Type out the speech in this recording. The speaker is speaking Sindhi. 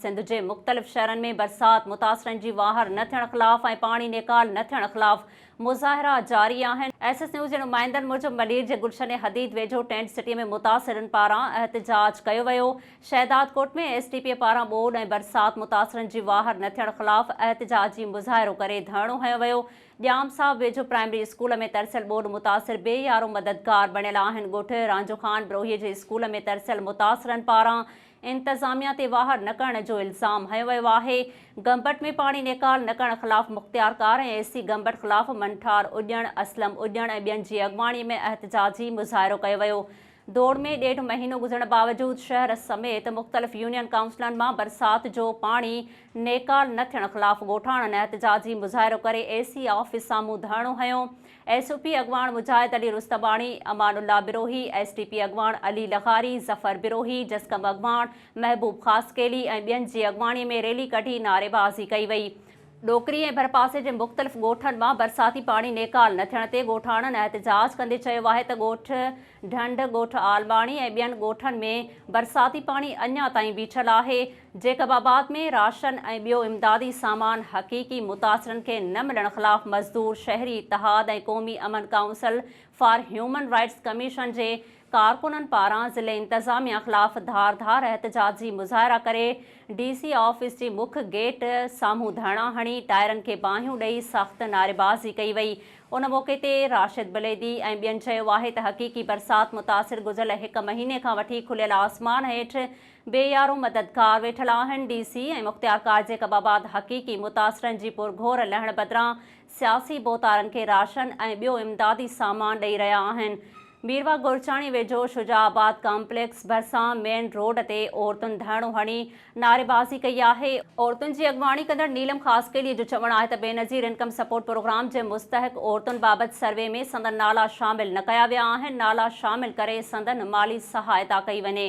سنڌ جي مختلف شھرن ۾ برسات متاثرن جي واھر نه ٿيڻ خلاف ۽ پاڻي نيڪال نه ٿيڻ خلاف مظاھرا جاري آھن، ايس ايس نيوز جي نمائندن موجب ملير جي گلشن حديد ويجھو ٽينٽ سٽي ۾ متاثرن پاران احتجاج ڪيو ويو، شهدادڪوٽ ۾ ايس ڊي پي پاران ٻوڏ ۽ برسات متاثرن جي واھر نه ٿيڻ خلاف احتجاجي مظاھرو ڪري ڌرڻو ھنيو ويو، ڄام صاحب ويجھو پرائمري اسڪول ۾ ترسيل ٻوڏ متاثر بي يارو مددگار بڻيل آھن، ڳوٺ رانجھو خان بروھيي جي اسڪول ۾ ترسيل متاثرن پاران انتظاميا تي واهر نه ڪرڻ جو الزام هنيو ويو آهي، گمبٽ ۾ پاڻي نيڪال نه ڪرڻ خلاف مختيار ڪار ۽ اي سي گمبٽ خلاف منٺار اڄڻ، اسلم اڄڻ ۽ ٻين جي اڳواڻي ۾ احتجاجي مظاهرو ڪيو ويو، دوڙ ۾ ڏيڍ مهينو گذرڻ باوجود شهر سميت مختلف يونين ڪائونسلن مان برسات جو پاڻي نيڪال نه ٿيڻ خلاف ڳوٺاڻن احتجاجي مظاهرو ڪري اي سي آفيس سامهون ڌرڻو هنيو، ايس او پي اڳواڻ Mujahid Ali Rustamani, Aman Allah Brohi, S T P اڳواڻ علي لغاري، ظفر بروهي، جسقم اڳواڻ محبوب خاصخيلي ۽ ٻين جي اڳواڻي ۾ ريلي ڪڍي نعريبازي ڪئي وئي. ڏوڪري ۽ ڀرپاسي جي مختلف ڳوٺن مان برساتي پاڻي نيڪال نه ٿيڻ تي ڳوٺاڻن احتجاج ڪندي چيو آهي ته ڳوٺ ڍنڍ، ڳوٺ عالماڻي ۽ ٻين ڳوٺن ۾ برساتي پاڻي اڃا تائين بيٺل آهي، جيڪب آباد ۾ راشن ۽ ٻيو امدادي سامان حقيقي متاثرن کي نه ملڻ خلاف مزدور شهري اتحاد ۽ قومي امن council for human rights commission جي ڪارڪنن پاران ضلعي انتظاميا خلاف ڌار ڌار احتجاجي مظاهرا ڪري ڊي سي آفيس جي مک گيٽ سامهون ڌرڻا هڻي ٽائرن کي باهيون ڏئي سخت نعريبازي ڪئي وئي ان موقعي تي راشد بليدي ۽ ٻين چيو آهي ته حقيقي برسات متاثر گذريل هڪ مهيني کان وٺي کليل آسمان هيٺ بي يارو مددگار ويٺل آهن، ڊي سي ۽ مختيار ڪارجي ڪباباد حقيقي متاثرن جي پرگهور لهڻ بدران سياسي ڀوتارن کي راشن ۽ ٻيو امدادي سامان ڏئي رهيا آهن. ميرواھ گورچاڻي ويجهو شجاع آباد ڪامپليڪس ڀرسان مين روڊ تي عورتن ڌرڻو هڻي نعريبازي ڪئي آهي، عورتن جي اڳواڻي ڪندڙ نيلم خاصخيلي جو چوڻ آهي ته بينظير انڪم سپورٽ پروگرام جي مستحق عورتن بابت سروي ۾ سندن نالا شامل نه ڪيا ويا آهن، نالا شامل ڪري سندن مالي سهائتا ڪئي وڃي.